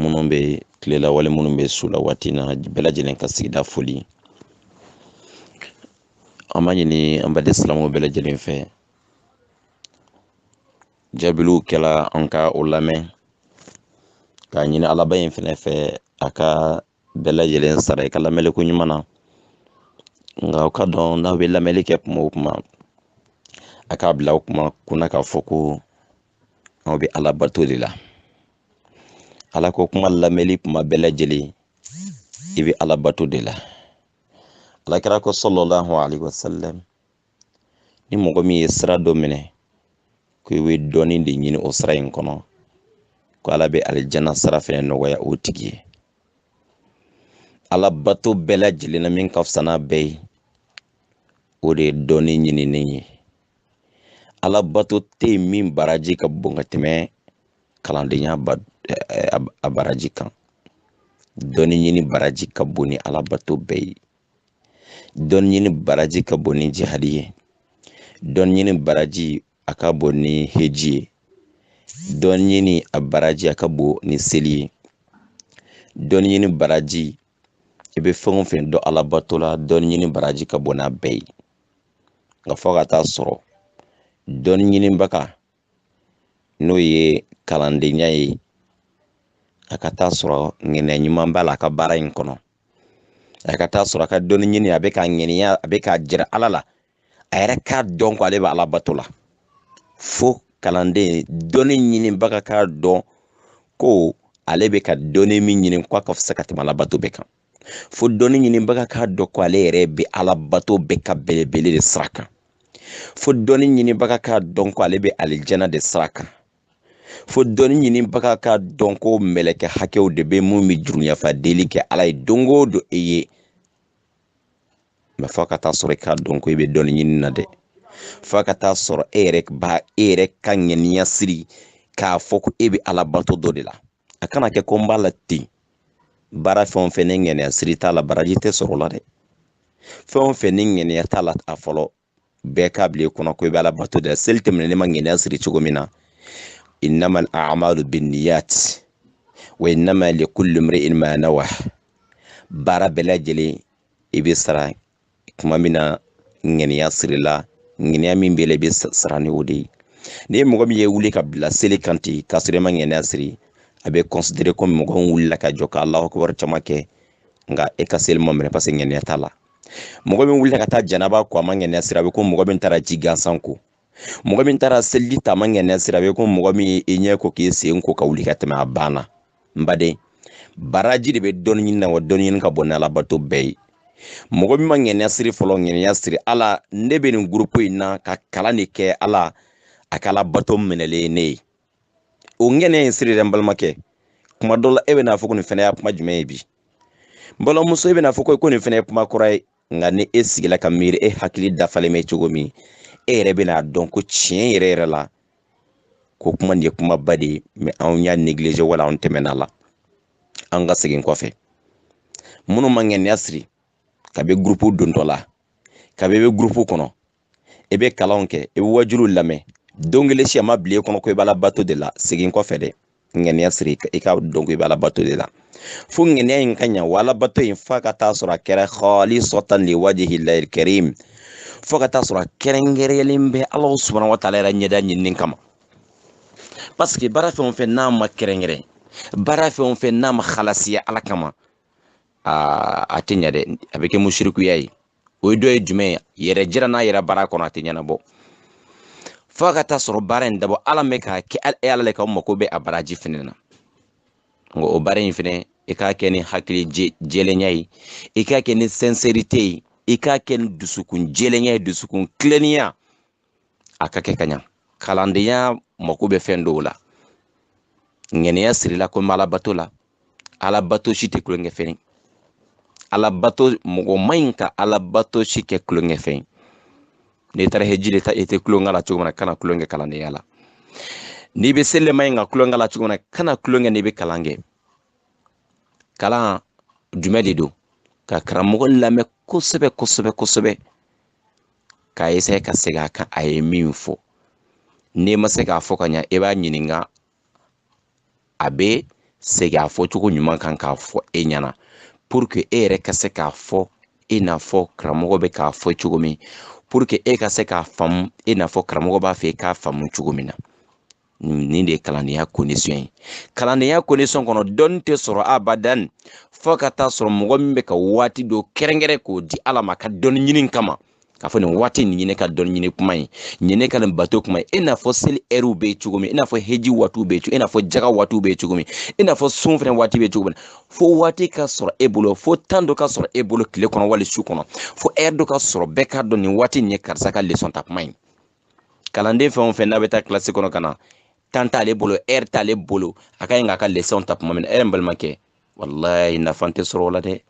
minnu bɛ tilela wala minnu bɛ su la waati na bɛɛ lajɛlen ka sigida foli an b'a ɲini an baden silamɛw bɛɛ lajɛlen fɛ jaabiliw kɛla an ka o lamɛn k'a ɲini alaba in fɛnɛ fɛ a ka bɛɛ lajɛlen sara i ka lamɛnni ko ɲuman na nka o k'a dɔn n'aw bɛ lamɛnni kɛ kuma o kuma a k'a bila o kuma kunna k'a fɔ ko aw bɛ ala bato de la ala ko kuma lamɛnli kuma bɛɛ lajɛlen i bɛ ala bato de la alakira ko sallallahu alayhi wa sallam ni mɔgɔ min ye sira dɔ minɛ ko i bɛ dɔnni de ɲini o sira in kɔnɔ ko ala bɛ alijana sira fɛnɛ nɔgɔya o tigi ye ala bato bɛɛ lajɛlen na min ka fisa n'a bɛɛ ye o de ye dɔnni ɲinini ye alabato tɛ yen min baraji ka bon ka tɛmɛ kalandenya a baraji kan dɔnni ɲini baraji ka bon ni alabato bɛɛ ye dɔnni ɲini baraji ka bon ni jihadi ye dɔnni ɲini baraji a ka bon ni heji ye dɔnni ɲini a baraji a ka bon ni seli ye dɔnni ɲini baraji i bɛ fɛn o fɛn dɔn alabato la dɔnni ɲini baraji ka bon n'a bɛɛ ye nka fo a ka taa sɔrɔ dɔnni ɲinibaga n'o ye kalandenya ye a ka taa sɔrɔ ŋɛniya ɲuman b'a la a ka baara in kɔnɔ a ka taa sɔrɔ a ka dɔnni ɲini a bɛ k'a ŋɛniya a bɛ k'a jira ala la a yɛrɛ k'a dɔn ko ale bɛ ala bato la fo kalanden dɔnni ɲinibaga k'a dɔn ko ale bɛ ka dɔnni min ɲini ko a ka fisa ka tɛmɛ ala bato bɛɛ kan fo dɔnni ɲinibaga k'a dɔn ko ale yɛrɛ bɛ ala bato bɛɛ ka belebele de sira kan fo dɔnni ɲinibaga k'a dɔn ko ale bɛ alijana de sira kan fo dɔnni ɲinibaga k'a dɔn ko mɛlɛkɛ hakɛw de bɛ min bɛ jurumu yafa deli kɛ ala ye don o don e ye mɛ fo a ka taa sɔrɔ i k'a dɔn ko i bɛ dɔnni ɲini na dɛ fo a ka taa sɔrɔ e yɛrɛ ba e yɛrɛ ka ŋaniya siri k'a fɔ ko e bɛ ala bato dɔ de la a kana kɛ ko n b'a la ten baara fɛn o fɛn ni ŋaniya siri t'a la baraji tɛ sɔrɔ o la dɛ fɛn o fɛn ni ŋaniya t'a la a fɔlɔ bɛɛ k'a bila i kɔnɔ ko i bɛ ala bato de la seli tɛ minɛ n'i ma ŋɛniya siri cogo min na innamal a'malu binniyat wa innama likulli mri'in ma nawa baara bɛɛ lajɛlen i bɛ sara tuma min na ŋɛniya sirila ŋɛniya min b'i la i bɛ sara ni o de ye ni mɔgɔ min ye wuli ka bila seli kan ten k'a sɔrɔ i ma ŋɛniya siri a bɛ kɔnsidere komi mɔgɔ min wulila ka jɔ ka alahu akibaru caman kɛ nka e ka seli ma minɛ paseke ŋɛniya t'a la mɔgɔ min wulila ka taa janaba ko a ma ŋɛniya siri a bɛ ko mɔgɔ min taara ji gansan ko mɔgɔ min taara seliji ta a ma ŋɛniya siri a bɛ ko mɔgɔ min ye i ɲɛ ko k'i sen ko ka wuli ka tɛmɛ a banna n baden baraji de bɛ dɔnni ɲini na wa dɔnni ɲini ka bon ni alabato bɛɛ ye mɔgɔ min ma ŋɛniya siri fɔlɔ ŋɛniya siri ala ne bɛ nin gurupu in na ka kalan de kɛ ala a kɛ alabato minɛlen ye ne ye o ŋɛniya in siri dɛ n balimakɛ kuma dɔ la e bɛn'a fɔ ko nin fɛnɛ y'a kuma jumɛn ye bi n balimamuso e bɛn'a fɔ ko ko nin fɛnɛ ye kuma kɔrɔ ye nka ni e sigila ka miiri e hakili dafalen bɛ cogo min e yɛrɛ bɛna a dɔn ko tiɲɛ yɛrɛ yɛrɛ la ko kuma nin ye kumaba de ye mɛ anw y'a negilize wala anw tɛmɛn'a la an ka segin kɔfɛ minnu ma ŋɛniya siri kabi gurupu dontɔ la kabi i bɛ gurupu kɔnɔ i bɛ kalanw kɛ i bɛ wajuliw lamɛn don kelen si a ma bila i kɔnɔ ko i b'ala bato de la segin kɔfɛ dɛ ŋaniya siri i k'a dɔn ko i b'ala bato de la fo ŋaniya in ka ɲa wa ala bato in f'a ka taa sɔrɔ a kɛra halisatan liwajihilahil karim fo ka taa sɔrɔ a kɛrɛnkɛrɛnyalen bɛ ala subahana wa taala yɛrɛ ɲɛda ɲinini kama paseke baara fɛn o fɛn n'a ma kɛrɛnkɛrɛn baara fɛn o fɛn n'a ma halasiya ala kama aa a tɛ ɲa dɛ a bɛ kɛ musirikuya ye o ye dɔ ye jumɛn ye yɛrɛjira n'a yera baara kɔnɔ a tɛ ɲɛnabɔ fo ka taa sɔrɔ baara in dabɔ ala mɛ k'a kɛ e ala le ka mako bɛ a baraji fɛnɛ na nka o baara in fɛnɛ i k'a kɛ ni hakili jɛlenya ye i k'a kɛ ni sɛnsɛrite ye i k'a kɛ ni dusukun jɛlenya ye dusukun tilennenya a ka kɛ ka ɲa kalandenya mako bɛ fɛn dɔw la ŋɛniya sirila ko n bɛ alabato la alabato si tɛ tulonkɛ fɛn ye alabato mɔgɔ ma ɲi ka alabato si kɛ tulonkɛ fɛn ye n'i taara heji de ta i tɛ tulonkɛ la cogo min na kana tulonkɛ kalandenya la n'i bɛ seli ma ɲi ka tulonkɛ la cogo min na kana tulonkɛ n'i bɛ kalan kɛ kalan jumɛn de don ka karamɔgɔ lamɛn kosɛbɛ kosɛbɛ kosɛbɛ k'a eseye ka segin a kan a ye min fɔ n'i ma se k'a fɔ ka ɲa i b'a ɲininka a bɛ segin a fɔcogo ɲuman kan k'a fɔ e ɲɛna puruke e yɛrɛ ka se k'a fɔ i n'a fɔ karamɔgɔ bɛ k'a fɔ cogo min puruke e ka se k'a faamu i n'a fɔ karamɔgɔ b'a fɛ i k'a faamu cogo min na nin de ye kalandenya condition ye kalandenya condition kɔnɔ dɔnni tɛ sɔrɔ abadan fo ka taa sɔrɔ mɔgɔ min bɛ ka waati dɔ kɛrɛnkɛrɛn k'o di ala ma ka dɔnni ɲini kama k'a fɔ nin waati nin ye ne ka dɔnni ɲini kuma ye nin ye ne ka nin bato kuma ye i n'a fɔ seli ɛriw bɛ yen cogo min i n'a fɔ heji waatiw bɛ yen cogo i n'a fɔ jaga waatiw bɛ yen cogo min i n'a fɔ sun fɛnɛ waati bɛ yen cogo min fo waati ka sɔrɔ e bolo fo tan dɔ ka sɔrɔ e bolo tile kɔnɔ wali su kɔnɔ fo ɛri dɔ ka sɔrɔ bɛɛ k'a dɔn nin waati nin ye karisa ka lesɔn ta kuma ye kalanden fɛn o fɛn n'a bɛ taa kilasi kɔnɔ ka na temps t'ale bolo heure t'ale bolo a ka ɲi k'a ka leçonw ta tuma min na ɛrɛ n balimakɛ walayi nafa tɛ sɔrɔ o la dɛ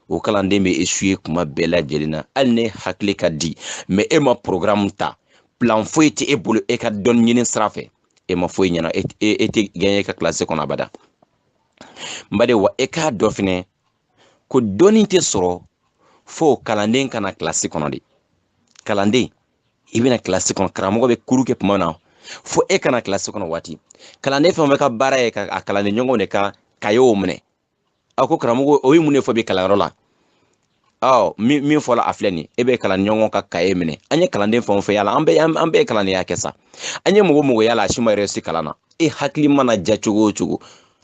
o kalanden bɛ échouer tuma bɛɛ lajɛlen na hali n'e hakili ka di mais e ma porogaramu ta plan foyi tɛ e bolo e ka dɔnni ɲini sira fɛ e ma foyi ɲɛna e tɛ gagner e ka kilasi kɔnɔ abada n baden wa e k'a dɔn fɛnɛ ko dɔnni tɛ sɔrɔ fo kalanden ka na kilasi kɔnɔ de kalanden i bɛ na kilasi kɔnɔ karamɔgɔ bɛ cours kɛ tuma na fo e ka na kilasi kɔnɔ waati kalanden fɛn o fɛn ka baara ye ka a kalanden ɲɔgɔnw de ka kayew minɛ a ko karamɔgɔ o ye mun de fɔ bi kalanyɔrɔ la ɔ min min fɔla a filɛ nin e bɛ kalan ɲɔgɔn ka kaye minɛ an ye kalanden fɛn o fɛn y'a la an bɛɛ an bɛɛ ye kalandenya kɛ sa an ye mɔgɔ mɔgɔ y'a la a si ma réussi kalan na e hakili mana ja cogo o cogo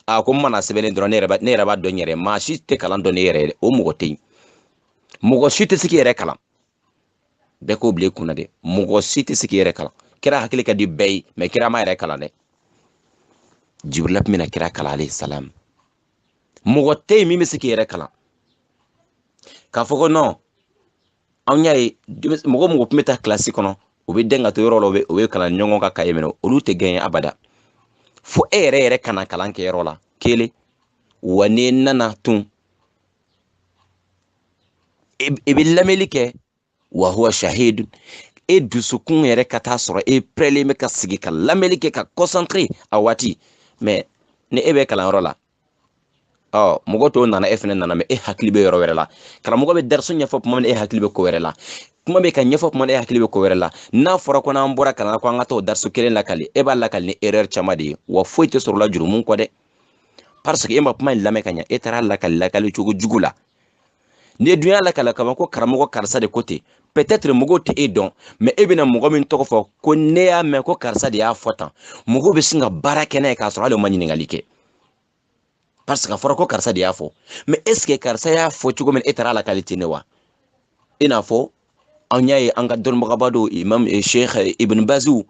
a ko n mana sɛbɛn ye dɔrɔn ne yɛrɛ b'a- ne yɛrɛ b'a dɔn n yɛrɛ ye. maa si tɛ kalan dɔn e yɛrɛ ye dɛ o mɔgɔ tɛ yen mɔgɔ si tɛ se k'i yɛrɛ kalan bɛɛ k'o bila i kunna dɛ mɔgɔ si tɛ se k'i yɛrɛ kalan kira hakili ka di bɛɛ ye mais kira m'a yɛrɛ kalan dɛ jibirila tun bɛ na kira kalan alayhi salam mɔgɔ tɛ yen min bɛ se k'i yɛrɛ kalan k'a fɔ ko non anw y'a ye mɔgɔ mɔgɔ tun bɛ taa kilasi kɔnɔ u bɛ dɛn ka to yɔrɔ la u bɛ kalan ɲɔgɔn ka kaye minɛ olu tɛ gagner abada fo e yɛrɛ yɛrɛ ka na kalankɛyɔrɔ la kelen wa n'i nana tun e, e bɛ lamɛnni kɛ wa huwa shahidu e dusukun yɛrɛ ka t'a sɔrɔ e pɛrɛlen bɛ ka sigi ka lamɛnni kɛ ka concentré a waati mais ni e bɛ kalanyɔrɔ la ɔ mɔgɔ tɔw nana e fɛnɛ nana mais e hakili bɛ yɔrɔ wɛrɛ la karamɔgɔ bɛ dariso ɲɛfɔ tuma min e hakili bɛ ko wɛrɛ la kuma bɛ ka ɲɛfɔ tuma min e hakili bɛ ko wɛrɛ la n'a fɔra ko n'an bɔra kalan na ko an ka taa o dariso kelen lakali e b'a lakali ni erreur caman de ye wa foyi tɛ sɔrɔ o la jurumu kɔ dɛ parce que e ma kuma in lamɛn ka ɲɛ e taara lakali lakali cogo jugu la n'e dun y'a lakali ka ban ko karamɔgɔ karisa de ko ten peut-être mɔgɔw tɛ e dɔn mais e bɛna mɔgɔ min tɔgɔ fɔ ko ne y'a mɛn ko karisa de y'a fɔ tan mɔgɔw bɛ sin ka baara kɛ n'a ye k'a sɔrɔ hali o ma ɲininkali kɛ parce que a fɔra ko karisa de y'a fɔ mais est ce que karisa y'a fɔ cogo min e taara a lakali ten ne wa i n'a fɔ an y'a ye an ka dɔnnibagaba dɔw imam eh, sheikh eh, ibn baziw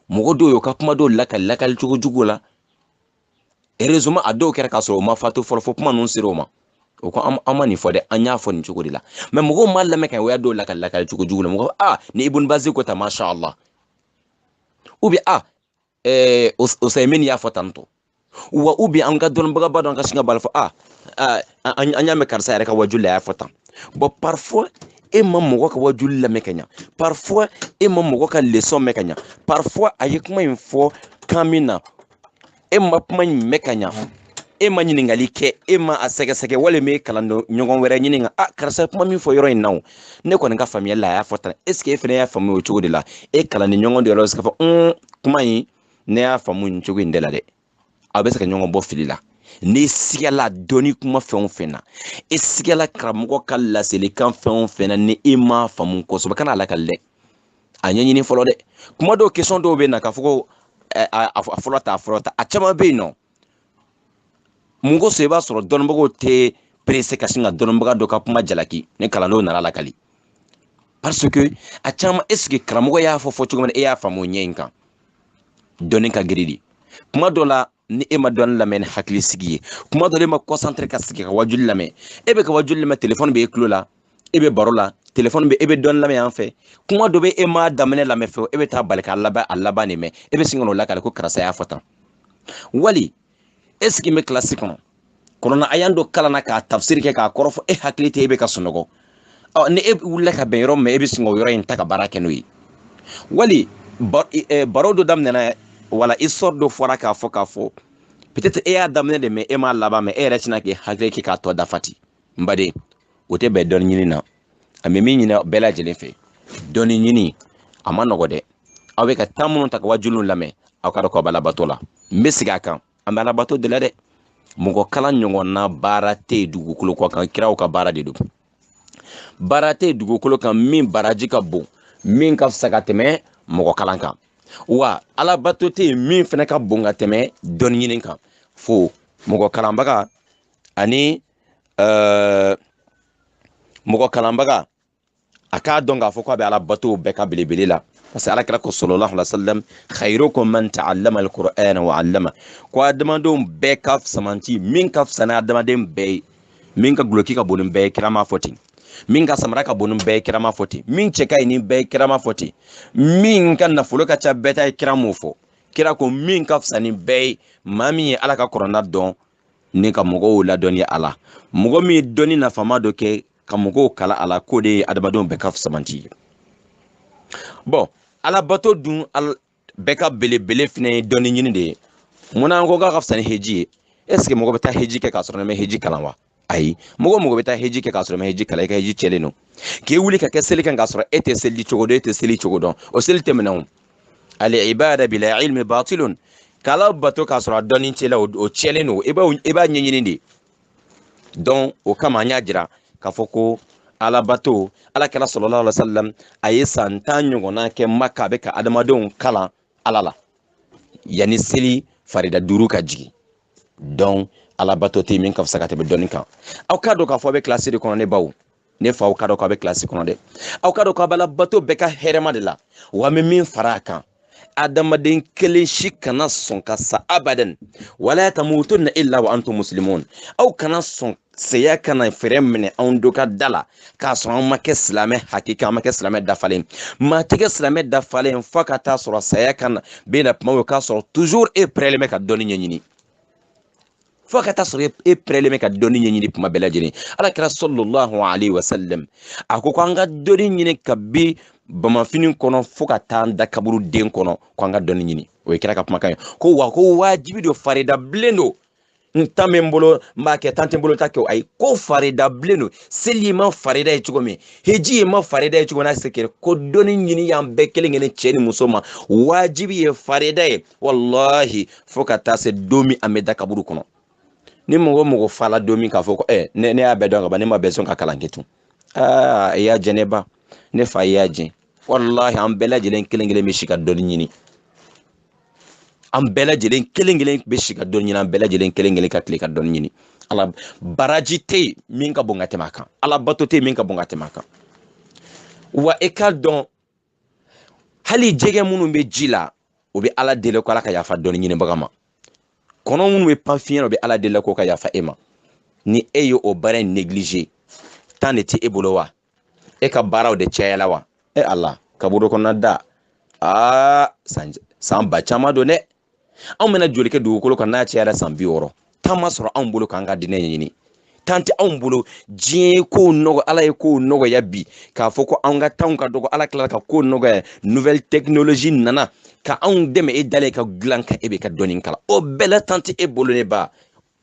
mɔgɔ dɔw y'o ka kuma dɔw lakali lakali cogo jugu la heureusement a dɔw kɛra k'a sɔrɔ o ma fatu fɔlɔ fo kuma ninnu sera o ma o ko an ma nin fɔ dɛ an y'a fɔ nin cogo de la mais mɔgɔw ma lamɛn ka o y'a dɔw lakali lakali cogo jugu la mɔgɔ a ni ibun bazi ko ta masha allah ou bien ɛɛ osayimini y'a fɔ tantɔ wa ou bien an ka dɔnnibagaba dɔ an ka sin ka bala fɔ a an y'a mɛn karisa yɛrɛ ka wajuli la a y'a fɔ tan bɔn parfois e ma mɔgɔ ka wajuli lamɛn ka ɲa parfois e ma mɔgɔ ka leçon mɛn ka ɲa parfois a ye kuma in fɔ kan min na e ma kuma in mɛn ka ɲa e ma ɲininkali kɛ e ma a sɛgɛsɛgɛ walima e kalanden ɲɔgɔn wɛrɛ ɲininka a karisa kuma min fɔ yɔrɔ in na o ne kɔni ka faamuyali la a y'a fɔ tan est ce que e fana y'a faamu o cogo de la e kalanden ɲɔgɔn de yɛrɛ se k'a fɔ un kuma in ne y'a faamu nin cogo in de la dɛ aw bɛ se ka ɲɔgɔn bɔ fili la n'i sigala dɔnni kuma fɛn o fɛn na e sigala karamɔgɔ ka laselikan fɛn o fɛn na ni e m'a faamu kosɛbɛ kana a lakali dɛ a ɲɛɲini fɔlɔ dɛ kuma dɔw question dɔw bɛ na k'a fɔ ko a fɔlɔ ta a fɔlɔ ta a caman bɛ yen nɔ mun kosɔn i b'a sɔrɔ dɔnnibagaw tɛ pressé ka sin ka dɔnnibaga dɔ ka kuma jalaki ni kalandenw nan'a lakali parce que a caman est ce que karamɔgɔ y'a fɔ fɔ cogo min na e y'a faamu o ɲɛ in kan dɔnni ka girin dɛ kuma dɔ la ni e ma dɔnni lamɛn ni hakili sigi ye kuma dɔ la e ma concentré ka sigi ka wajuli lamɛn e bɛ ka wajuli lamɛn telefɔni bɛ e tulo la e bɛ baro la telefɔni bɛ e bɛ dɔnni lamɛn yan fɛ kuma dɔ bɛ e m'a daminɛ lamɛn fɛ e bɛ taa bali k'a laban a laban de mɛn e bɛ sin ka n'o lakali ko karisa y'a fɔ tan wali e sigi bɛ kilasi kɔnɔ kɔnɔna aya dɔ kalanna k'a tafsiri kɛ k'a kɔrɔ fɔ e hakili tɛ e bɛ ka sunɔgɔ ɔ ni e wulila ka bɛn yɔrɔ min ma e bɛ sin k'o yɔrɔ in ta ka baara kɛ n'o ye wali baro dɔ daminɛna wala histoire dɔ fɔra k'a fɔ k'a fɔ peut-être e y'a daminɛ de mɛn e m'a laban mɛn e yɛrɛ tɛna k'i hakili kɛ k'a tɔ dafa ten n baden o tɛ bɛn dɔnni ɲini na an bɛ min ɲini bɛɛ lajɛlen fɛ dɔnni ɲini a man nɔgɔ dɛ aw bɛ ka temps minnu ta ka wajuliw lamɛn aw k'a dɔn k'aw bɛ alabato la n bɛ segin a kan an bɛ alabato de la dɛ mɔgɔ kalan ɲɔgɔnna baara tɛ yen dugukolo kɔ kan kiraw ka baara de don baara tɛ yen dugukolo kan min baraji ka bon min ka fisa ka tɛmɛ mɔgɔ kalan kan wa alabato tɛ yen min fana ka bon ka tɛmɛ dɔnni ɲini kan fo mɔgɔ kalanbaga ani uh, mɔgɔ kalanbaga a k'a dɔn k'a fɔ ko a bɛ alabatow bɛɛ ka belebele la parce que ala kira ko sallallahu alaihi wasallam khairukum man ta'allama alqur'ana wa 'allama ko adamadenw bɛɛ ka fisamanti min ka fisa ni adamaden bɛɛ ye min ka guloki ka bon ni bɛɛ ye kira m'a fɔ ten min ka samara ka bon ni bɛɛ ye kira m'a fɔ ten min cɛ ka ɲi ni bɛɛ ye kira m'a fɔ ten min ka nafolo ka ca bɛɛ ta ye kira m'o fɔ kira ko min ka fisa ni bɛɛ ye maa min ye ala ka kurana dɔn ni ka mɔgɔw ladɔnniya a la mɔgɔ min ye dɔnni nafama dɔ kɛ ka mɔgɔw kalan a la k'o de ye adamadenw bɛɛ ka fisamanti ye bon alabato dun bɛɛ ka belebele fana ye dɔnni ɲini de ye munna an ko k'a ka fisa ni heji ye est ce que mɔgɔ bɛ taa heji kɛ k'a sɔrɔ e ma heji kalan wa ayi mɔgɔ mɔgɔ bɛ taa heji kɛ k'a sɔrɔ e ma heji kalan i ka heji cɛlen don k'i wuli ka kɛ seli kan k'a sɔrɔ e tɛ seli cogo dɔn e tɛ seli cogo dɔn o seli tɛ minɛ o al ibada bila ilmi batilun k'ala bato k'a sɔrɔ a dɔnni t'i la o tiɲɛlen don i b'a i b'a ɲɛɲini de donc o kama an y'a jira k'a fɔ ko ala bato ala kira sallallahu alaihi wasallam a ye san tan ɲɔgɔnna kɛ maka a bɛ ka adamadenw kalan ala la yanni seli farida duuru ka jigin donc ala bato tɛ min ka fisa ka tɛmɛ dɔnni kan aw k'a dɔn k'a fɔ a bɛ kilasi de kɔnɔ ne baw ne fa aw k'a dɔn k'a bɛ kilasi kɔnɔ dɛ aw k'a dɔn k'a bɛ ala bato bɛɛ ka hɛrɛma de la wa an bɛ min fara a kan adamaden kelen si kana sɔn ka sa abadan wala tamutunna illa wa antum muslimun aw kana sɔn saya kana fɛɛrɛ minɛ anw do ka da la k'a sɔrɔ an ma kɛ silamɛ hakika an ma kɛ silamɛ dafalen maa tɛ kɛ silamɛ dafalen fo ka taa sɔrɔ saya kana bɛ na tuma o k'a sɔrɔ toujours e pɛrɛlen bɛ ka dɔnni ɲɛɲini fo ka taa sɔrɔ e pɛrɛlen bɛ ka dɔnni ɲɛɲini tuma bɛɛ lajɛlen ala kira sallallahu alayhi wa sallam a ko ko an ka dɔnni ɲini kabi bamufini kɔnɔ fo ka taa an da kaburu den kɔnɔ ko an ka dɔnni ɲini o ye kira ka kumakan ye ko wa ko wajibi don farida bilen don ni tan bɛ n bolo n b'a kɛ tan tɛ n bolo n t'a kɛ o ayi ko farida bilen don seli ma farida ye cogo min heji ye ma farida ye cogo min na se kɛ ko dɔnni ɲini y'an bɛɛ kelen kelen cɛ ni muso ma wajibi ye farida ye walahi fo ka taa se don min an bɛ da kaburu kɔnɔ ni mɔgɔ mɔgɔ fala don min k'a fɔ ko ɛ ne ne y'a bɛɛ dɔn ka ban ne ma bɛɛ sɔn ka kalan kɛ tun aa i y'a jɛ ne ba ne fa y'a jɛ walahi an bɛɛ lajɛlen kelen kelen bɛ si ka dɔnni ɲini an bɛɛ lajɛlen kelen kelen bɛ si ka dɔnni ɲini an bɛɛ lajɛlen kelen kelen ka tile ka dɔnni ɲini ala baraji tɛ yen min ka bon ka tɛmɛ a kan ala bato tɛ yen min ka bon ka tɛmɛ a kan wa i k'a dɔn hali jɛgɛ minnu bɛ ji la o bɛ ala deli ko ala ka yafa dɔnni ɲinibaga ma kɔnɔ minnu bɛ pan fiɲɛ o bɛ ala deli ko ka yafa e ma ni e ye o baara in négliger tan de tɛ e bolo wa e ka baaraw de cayala wa e ala kaburu kɔnɔna da aa san san ba caman don dɛ anw bɛna joli kɛ dugukolo kan n'a cayara san bi wɔɔrɔ tan ma sɔrɔ anw bolo k'an ka diinɛ ɲɛɲini tan tɛ anw bolo diɲɛ ye kow nɔgɔ ala ye kow nɔgɔya bi k'a fɔ ko anw ka tanw ka dɔgɔ ala tilala ka kow nɔgɔya nouvelle technologie nana ka anw dɛmɛ e dalen ka dilan kan e bɛ ka dɔnni kalan o bɛɛ la tan tɛ e bolo ne ba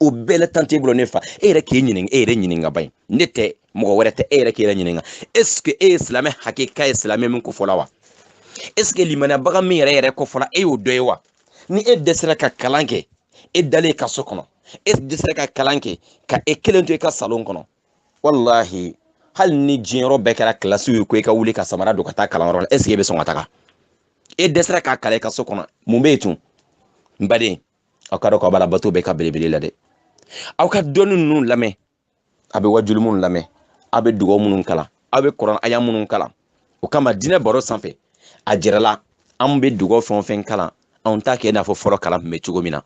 o bɛɛ la tan t'e bolo ne fa e yɛrɛ k'e ɲininka e yɛrɛ ɲininka ba in ne tɛ mɔgɔ wɛrɛ tɛ e yɛrɛ k'e yɛrɛ ɲininka est ce que e ye silamɛ hakika ye silamɛ min ko fɔla wa est ce que limaniyabaga min yɛrɛ yɛrɛ ko fɔla e y'o dɔ ye wa ni e dɛsɛra ka kalan kɛ e dalen ka so kɔnɔ e dɛsɛra ka kalan kɛ ka e kelen to i ka salon kɔnɔ walahi hali ni diɲɛyɔrɔ bɛɛ kɛra kilasiw ye ko i ka wuli ka samara don ka taa kalanyɔrɔ la est ce que e bɛ sɔn ka taga e dɛsɛra k'a kalan i ka so kɔnɔ mun bɛ yen tun n baden aw k'a dɔn k'a b'alabato bɛɛ ka belebele la dɛ aw ka dɔnni ninnu lamɛn a bɛ wajuli minnu lamɛn aw bɛ dugaw minnu kalan aw bɛ kurana aya minnu kalan o kama diinɛ baro sanfɛ a jɛrɛ la an bɛ dugaw fɛn o fɛn kalan anw t'a kɛ i n'a fɔ fɔlɔ kalan tun bɛ cogo min na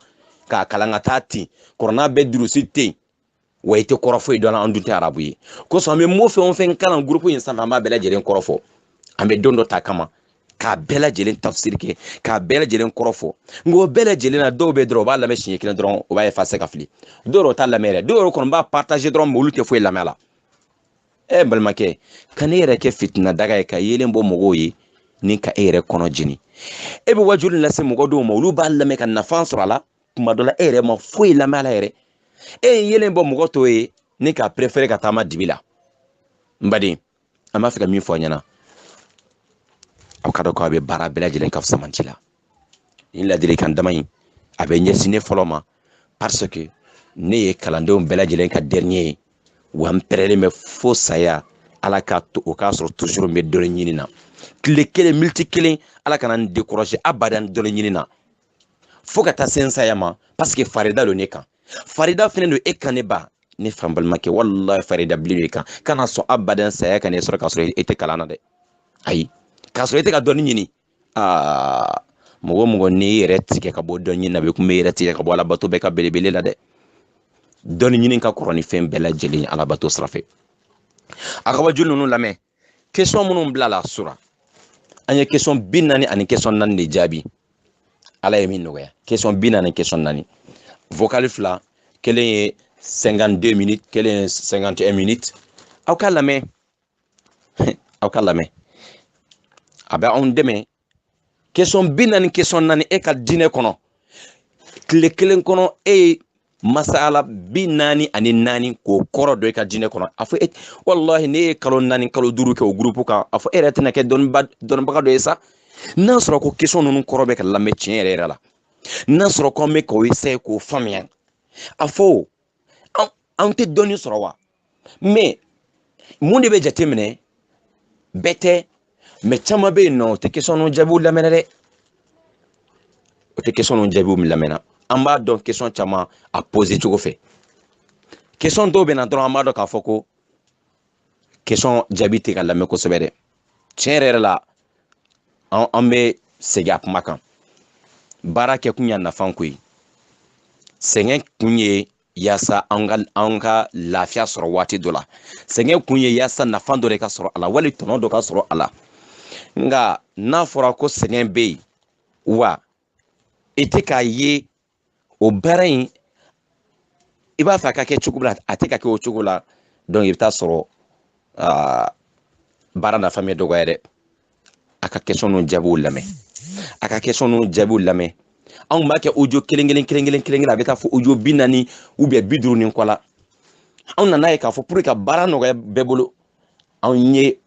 k'a kalan ka taa ten kurana bɛ durusi ten wa i tɛ kɔrɔ foyi dɔn an dun tɛ arabu ye kosɔn an bɛ mo fɛn o fɛn kalan gurupu in sanfɛ an b'a bɛɛ lajɛlen kɔrɔ fɔ an bɛ don dɔ ta kama k'a bɛɛ lajɛlen tafsiri kɛ k'a bɛɛ lajɛlen kɔrɔ fɔ nka o bɛɛ lajɛlen na dɔw bɛ dɔrɔn u b'a lamɛn siɲɛ kelen dɔrɔn u b'a effacer k'a fili dɔw yɛrɛ t'a lamɛn yɛrɛ dɔw yɛrɛ kɔni b'a partager dɔrɔn mais olu tɛ foyi lamɛn a la ɛ n balimakɛ kan'i yɛrɛ kɛ fitinɛ daga ye ka yeelen bɔ mɔgɔw ye ni ka e yɛrɛ kɔnɔ jeni e bɛ wajuli lase mɔgɔ dɔw ma olu b'a lamɛn ka nafa sɔrɔ a la kuma dɔ la e yɛrɛ ma foyi lamɛn a la yɛrɛ e ye yeelen bɔ mɔgɔ tɔw ye ni ka préférer ka taama dibi la n baden an b'a fɛ ka min fɔ a ɲɛna aw k'a dɔn ko a bɛ baara bɛɛ lajɛlen ka fusamanci la nin laadilikan dama in a bɛ ɲɛsin ne fɔlɔ ma parce que ne ye kalandenw bɛɛ lajɛlen ka dernier ye wa n pɛrɛlen bɛ fo saya ala k'a to o k'a sɔrɔ toujours n bɛ dɔnni ɲini na tile kelen miniti kelen ala kana n décourager abadan dɔnni ɲini na fo ka taa se n saya ma parce que farida don ne kan farida fɛnɛ don e kan ne ba ne fa n balimakɛ walahi farida bilen b'i kan kana sɔn abadan saya ka n'e sɔrɔ k'a sɔrɔ e tɛ kalan na dɛ ayi k'a sɔrɔ e tɛ ka dɔnni ɲini aa mɔgɔ mɔgɔ n'i yɛrɛ tigɛ ka bɔ dɔnni ɲini na bɛ kun bɛ yɛrɛ tigɛ ka bɔ alabato bɛɛ ka belebele la dɛ dɔnni ɲini ka kɔrɔ ni fɛn bɛɛ lajɛlen alabato sira fɛ a ka wajuli ninnu lamɛn question minnu bilala sura an ye question bi naani ani question naani de jaabi ala ye min nɔgɔya question bi naani question naani vocal fila kelen ye 52 minutes kelen ye 51 minutes aw k'a lamɛn aw k'a lamɛn a bɛ anw dɛmɛ question bi naani question naani e ka diinɛ kɔnɔ tile kelen kɔnɔ e ye masala bi naani ani naani k'o kɔrɔ dɔn i ka diinɛ kɔnɔ a fɔ e walahi n'e ye kalo naani kalo duuru kɛ o gurupu kan a fɔ e yɛrɛ tɛna kɛ dɔnnibaga dɔ ye sa n'a sɔrɔ ko question ninnu kɔrɔ bɛ ka lamɛn tiɲɛ yɛrɛ yɛrɛ la n'a sɔrɔ ko an bɛ k'o essayer k'o faamuya a fɔ anw tɛ dɔnni sɔrɔ wa mais mun de bɛ jate minɛ bɛɛ tɛ mais caman bɛ yen n'o tɛ question ninnu jaabiw lamɛnna dɛ o tɛ question ninnu jaabiw lamɛnna an b'a dɔn question caman a poser cogo fɛ question dɔw bɛ na dɔrɔn an b'a dɔn k'a fɔ ko question jaabi tɛ ka lamɛn kosɛbɛ dɛ tiɲɛ yɛrɛ yɛrɛ la an bɛ segin a kuma kan baara kɛ kun y'a nafa ko ye sɛgɛn kun ye yaasa an ka an ka lafiya sɔrɔ waati dɔ la sɛgɛn kun ye yaasa nafa dɔ de ka sɔrɔ a la wali tɔnɔ dɔ ka sɔrɔ a la nka n'a fɔra ko sɛgɛn bɛ yen wa i tɛ k'a ye o baara in i b'a fɛ a ka kɛ cogo la a tɛ ka kɛ o cogo la donc i bɛ taa sɔrɔ baara nafa bɛ dɔgɔya dɛ a ka question n'u jaabiw lamɛn a ka question n'u jaabiw lamɛn anw b'a kɛ audio kelen kelen kelen kelen kelen kelen a bɛ taa fɔ audio bi naani ou bien bi duuru ni kɔ la anw nana ye k'a fɔ pour que ka baara nɔgɔya bɛɛ bolo anw ye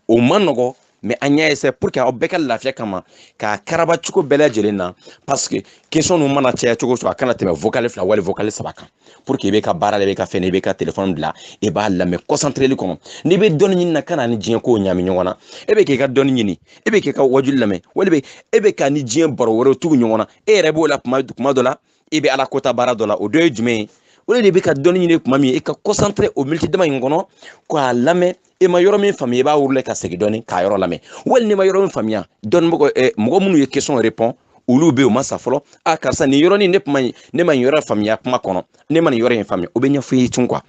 o ma nɔgɔ mais an y'a essayer pour que aw bɛɛ ka lafiya kama k'a karaba cogo bɛɛ lajɛlen na parce que question nu mana caya cogo o cogo a kana tɛmɛ vocal fila wali vocal saba kan pour que i bɛ ka baara la i bɛ ka fɛn i bɛ ka telefɔni bila i b'a lamɛn concentreli kɔnɔ n'i bɛ dɔnni ɲini na kana ni diɲɛ kow ɲami ɲɔgɔn na e bɛ k'i ka dɔnni ɲini e bɛ k'i ka wajuli lamɛn wali bɛ e bɛ ka ni diɲɛ baro wɛrɛw tugu ɲɔgɔn na e yɛrɛ b'o la kuma dɔ la e bɛ ala kota baara dɔ la o dɔ ye jumɛn ye o de bɛ ka dɔnni ɲini tuma min i ka concentrer o miniti dama in kɔnɔ k'a lamɛn i ma yɔrɔ min faamuya i b'a wurula ka segin dɔɔni k'a yɔrɔ lamɛn wali n'i ma yɔrɔ min faamuya dɔnnibagaw eh, mɔgɔ minnu ye question répondre olu bɛ yen u ma sa fɔlɔ a karisa nin yɔrɔnin ne kuma ne ma nin yɔrɔ faamuya kuma kɔnɔ ne ma nin yɔrɔ in faamuya o bɛ ɲɛfɔ i ye tun quoi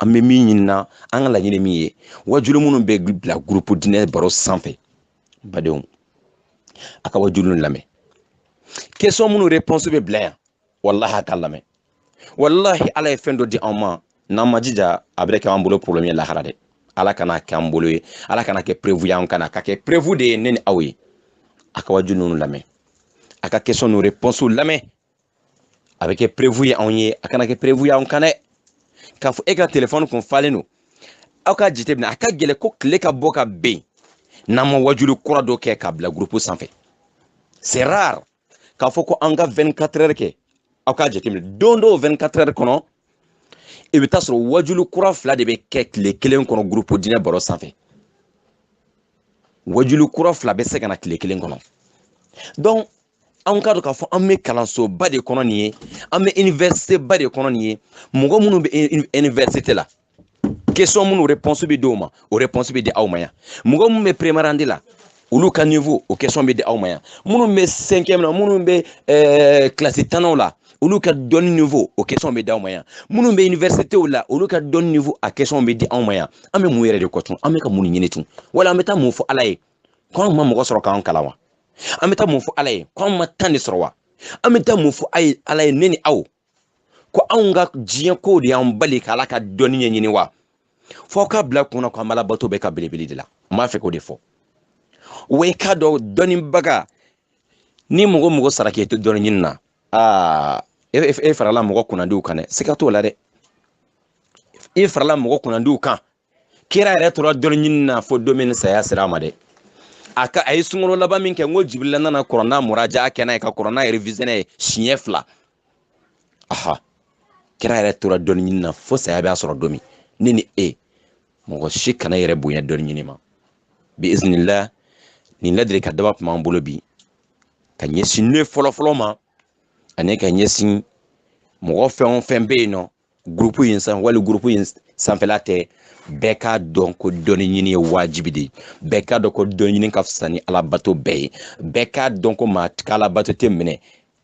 an bɛ min ɲini na an ka laɲini min ye wajuli minnu bɛ bila gurupu diinɛ baro sanfɛ badenw a ka wajulu lamɛn question minnu réponse bɛ bila yan walahi a ka lamɛn walahi ala ye fɛn dɔ di anw ma n'an ma jija a bɛ kɛ an bolo problème ye lahara dɛ ala kana kɛ an bolo ye ala kana kɛ preuve y'an kan a ka kɛ preuve de ye ne ni aw ye a ka wajulu ninnu lamɛn a ka question n'u réponse lamɛn a bɛ kɛ preuve ye anw ye a kana kɛ preuve ye anw kan dɛ k'a fɔ e ka telefɔni kun falen don aw ka jateminɛ a ka gɛlɛn ko tile ka bɔ ka ben n'an ma wajuli kura dɔ kɛ k'a bila gurupu sanfɛ c'est rare k'a fɔ ko an ka 24 heures kɛ aw ka jateminɛ don dɔw 24 heures kɔnɔ i bɛ taa sɔrɔ wajuli kura fila de bɛ kɛ tile kelen kɔnɔ gurupu diinɛ baro sanfɛ wajuli kura fila bɛ se ka na tile kelen kɔnɔ donc anw k'a dɔn k'a fɔ an bɛ kalansoba de kɔnɔ nin ye an bɛ université ba de kɔnɔ nin ye mɔgɔ minnu bɛ université la question minnu réponse bɛ di o ma o réponse bɛ di aw ma yan mɔgɔ minnu bɛ première année la olu ka niveau o question bɛ di aw ma yan minnu bɛ cinquième na minnu bɛ eh, kilasi tannaw la olu ka dɔnni niveau o question bɛ di aw ma yan minnu bɛ universitéw la olu ka dɔnni niveau a question bɛ di aw ma yan an bɛ mun yɛrɛ de kɔ tun an bɛ ka mun ɲini tun wala an bɛ taa mun fɔ ala ye ko anw ma mɔgɔ sɔrɔ k'an kalan wa an bɛ taa mun fɔ ala ye ko anw ma temps de sɔrɔ wa an bɛ taa mun fɔ ala ye ne ni aw ko anw ka diɲɛ kow de y'an bali ka ala ka dɔnni ɲɛɲini wa fɔ aw k'a bila kunna ko an b'ala bato bɛ ka belebele de la n b'a fɛ k'o de fɔ wa i k'a dɔn dɔnnibaga ni mɔgɔ mɔgɔ sara k'i to dɔnni ɲini na aa e, e, e farala mɔgɔ kunnandiw kan dɛ siga t'o la dɛ e farala mɔgɔ kunnandiw kan kira yɛrɛ tora dɔnni ɲini na fo don min saya sera a ma dɛ a ka a ye sunkalo laban min kɛ n ko jibirila nana kuranɛ muraja kɛ n'a ye ka kuranɛ réviser n'a ye siɲɛ fila aha kira yɛrɛ tora dɔnni ɲini na fo saya b'a sɔrɔ don min ne ni e mɔgɔ si kana yɛrɛ bonya dɔnni ɲini ma bi iznillah nin ladilikan dama tun b'an bolo bi ka ɲɛsin ne fɔlɔfɔlɔ ma ani ka ɲɛsin mɔgɔ fɛn o fɛn bɛ yen nɔ gurupu in san wali gurupu in sanfɛla tɛ bɛɛ k'a dɔn ko dɔnni ɲini ye wajibi de ye bɛɛ k'a dɔn ko dɔnni ɲini ka fisa ni alabato bɛɛ ye bɛɛ k'a dɔn ko maa ka alabato tɛ minɛ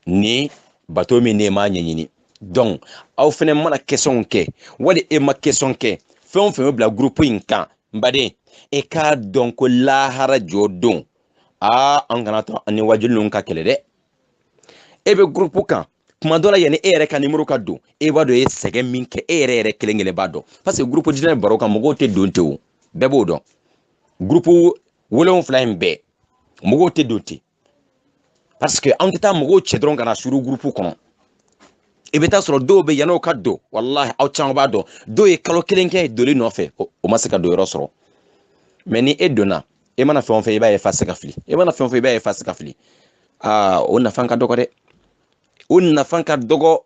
ni bato min ne m'a ɲɛɲini donc aw fɛnɛ mana questionw kɛ wali e ma question kɛ fɛn o fɛn bɛ bila gurupu in kan n baden e k'a dɔn ko lahara jɔ don aa an kana to an ni wajuli ninnu ka kɛlɛ dɛ e bɛ gurupu kan kuma dɔ la yanni e yɛrɛ ka nimoro ka don e b'a dɔn e ye sɛgɛn min kɛ e yɛrɛ yɛrɛ kelen kelen b'a dɔn parce que gurupu diinɛ baro kan mɔgɔw tɛ don ten o bɛɛ b'o dɔn gurupu wolonwula in bɛɛ mɔgɔw tɛ don ten parce que an tɛ taa mɔgɔw cɛ dɔrɔn ka na suru gurupu kɔnɔ i bɛ taa sɔrɔ dɔw bɛ yan'o ka don walahi aw caman b'a dɔn dɔw ye kalo kelen kɛ doli nɔfɛ o ma se ka donyɔrɔ sɔrɔ mais ni e donna e mana fɛn o fɛn i b'a effacer k'a fili e mana fɛn o fɛn i b'a effacer k'a fili aa o nafa ka dɔgɔ dɛ o nafa ka dɔgɔ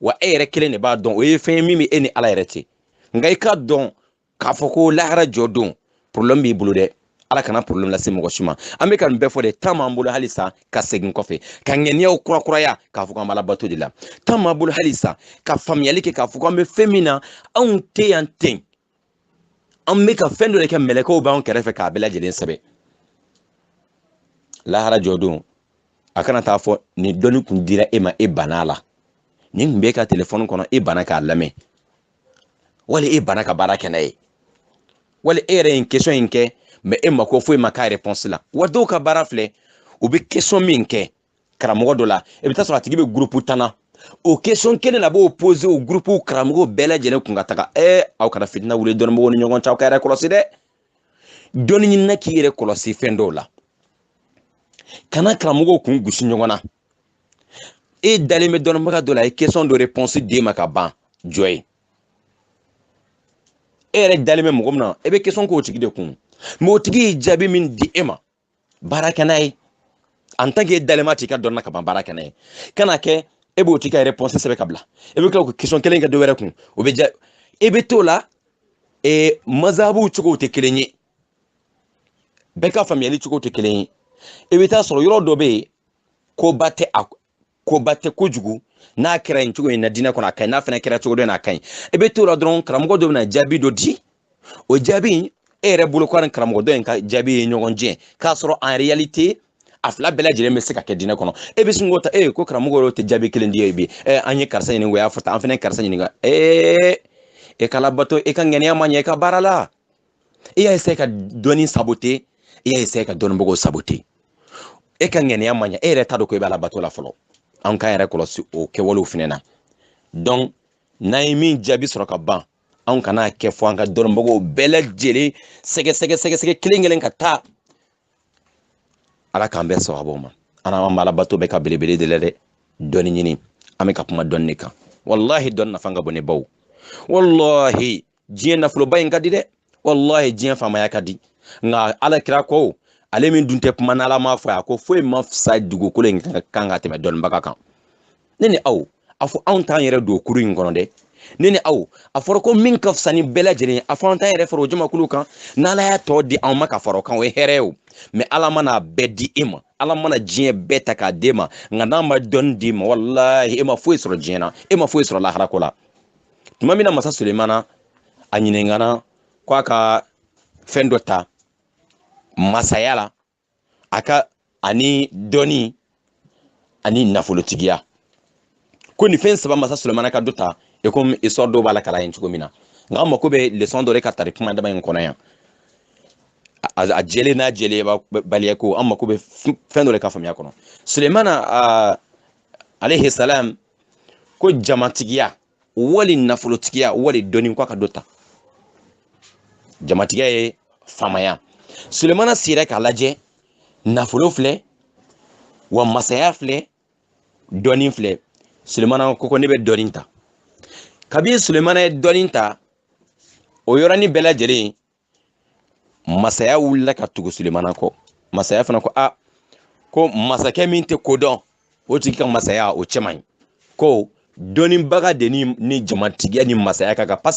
wa e yɛrɛ kelen de b'a dɔn o ye fɛn ye min bɛ e ni ala yɛrɛ cɛ nka i k'a dɔn k'a fɔ ko lahara jɔ don problème b'i bolo dɛ ala kana problème lase mɔgɔ si ma an bɛ ka nin bɛɛ fɔ de temps b'an bolo halisa ka segin kɔfɛ ka ŋaniyaw kurakuraya k'a fɔ k'an b'ala bato de la temps b'an bolo halisa ka faamuyali kɛ k'a fɔ k'an bɛ fɛn min na anw tɛ yan ten an bɛ ka fɛn dɔ de kɛ mɛlɛkɛw b'an kɛrɛfɛ k'a bɛɛ lajɛlen sɛbɛn lahara jɔ don a kana taa fɔ nin dɔnni kun dira e ma e banna a la nin kun b'e ka telefɔni kɔnɔ e banna k'a lamɛn wali e banna ka baara kɛ n'a ye wali e yɛrɛ ye nin question in kɛ mais e mako foyi ma k'a réponse la wa dɔw ka baara filɛ u bɛ question min kɛ karamɔgɔ dɔ la i bɛ taa sɔrɔ a tigi bɛ gurupu tan na o question kelen na b'o poser o gurupu karamɔgɔw bɛɛ lajɛlen kun ka taga ɛ aw kana fitina wuli dɔnnibagaw ni ɲɔgɔn cɛ aw ka yɛrɛ kɔlɔsi dɛ dɔnni ɲinina k'i yɛrɛ kɔlɔsi fɛn dɔw la kana karamɔgɔw kun gosi ɲɔgɔn na e dalen bɛ dɔnnibaga dɔ la a ye question dɔ réponse d'e ma ka ban jɔ ye e yɛrɛ dalen bɛ mɔgɔ min na e bɛ question k'o tigi de kun mais o tigi ye jaabi min di e ma baara kɛ n'a ye en tant que e dalen b'a tigi ka dɔnni na ka ban baara kɛ n'a ye kana kɛ e b'o tigi ka réponse sɛbɛn ka bila e bɛ tila k'o question kelen kɛ dɔ wɛrɛ kun o bɛ ja e bɛ t'o la e mazabuw cogow tɛ kelen ye bɛɛ ka faamuyali cogo tɛ kelen ye i bɛ taa sɔrɔ yɔrɔ dɔ bɛ yen ko ba tɛ a koba tɛ kojugu n'a kɛra yen cogo in na diinɛ kɔnɔ a ka ɲi n'a fana kɛra cogo dɔ in na a ka ɲi i bɛ t'o la dɔrɔn karamɔgɔ dɔ bɛna jaabi dɔ di o jaabi in e yɛrɛ bolo ko ni karamɔgɔ dɔ in ka jaabi ye ɲɔgɔn jɛ k'a sɔrɔ en réalité a fila bɛɛ lajɛlen bɛ se ka kɛ diinɛ kɔnɔ e bɛ sin k'o ta e ko karamɔgɔ yɛrɛ tɛ jaabi kelen di ye bi ɛ an ye karisa ɲininka o y'a fɔ tan an fana ye karisa ɲininka ee e ka alabato e ka ŋaniya ma ɲɛ i ka baara la i y'a essayé ka dɔnni saboter i y'a essayé ka dɔnnibagaw saboter e ka ŋaniya ma ɲɛ e yɛrɛ t'a dɔn ko i b'ala bato la fɔlɔ an k'an yɛrɛ kɔlɔsi o kɛwalew fɛnɛ na donc n'an ye min jaabi sɔrɔ ka ban anw kana kɛ fo an ka dɔnnibagaw bɛɛ lajɛlen sɛgɛsɛgɛ sɛgɛsɛgɛ kelen kelen ka taa ala k'an bɛɛ sababu ma an an b'alabato bɛɛ ka belebele de la dɛ dɔnni ɲini an bɛ ka kuma dɔnni de kan walahi dɔnni nafa ka bon ne baw walahi diɲɛ nafoloba in ka di dɛ wallahi diɲɛ faamaya ka di nka ala kira ko ale min dun tɛ kuma n'ala m'a fɔ a ko foyi ma fisa dugukolo in kan ka tɛmɛ dɔnnibaga kan ne ni aw a fɔ anw t'an yɛrɛ don kuru in kɔnɔ dɛ ne ni aw a fɔra ko min ka fisa ni bɛɛ lajɛlen ye a fɔ an t'an yɛrɛ fara o jamakulu kan n'ala y'a tɔ di anw ma ka fara o kan o ye hɛrɛ ye o mais ala mana a bɛɛ di e ma ala mana diɲɛ bɛɛ ta k'a d'e ma nka n'a ma dɔnni d'i ma walahi e ma foyi sɔrɔ diɲɛ na e ma foyi sɔrɔ laharako la tuma min na masa sulemana a ɲininkana ko a ka fɛn dɔ ta masaya la a ka ani dɔnni ani nafolotigiya ko nin fɛn saba masa sulemana ka dɔ ta e komi histoire dɔw b'a lakali yen cogo min na nka an mako bɛ leçon dɔ de ka tari kuma dama in kɔnɔ yan a jɛlen n'a jɛlenbaliya ko an mako bɛ fɛn dɔ de ka faamuya kɔnɔ sulemana alayhi salam ko jamatigiya wali nafolotigiya wali dɔnni ko a ka dɔ ta jamatigiya ye faamaya sulemana sira k'a lajɛ nafolo filɛ wa masaya filɛ dɔnni filɛ sulemana ko ko ne bɛ dɔnni ta kabini sulemana ye dɔnni ta o yɔrɔnin bɛɛ lajɛlen masaya wulila ka tugu sulemana kɔ masaya fana ko ah ko masakɛ min tɛ ko dɔn o tigi ka masaya o cɛ man ɲi ko dɔnnibaga de ni ni jamatigiya ni masaya ka kan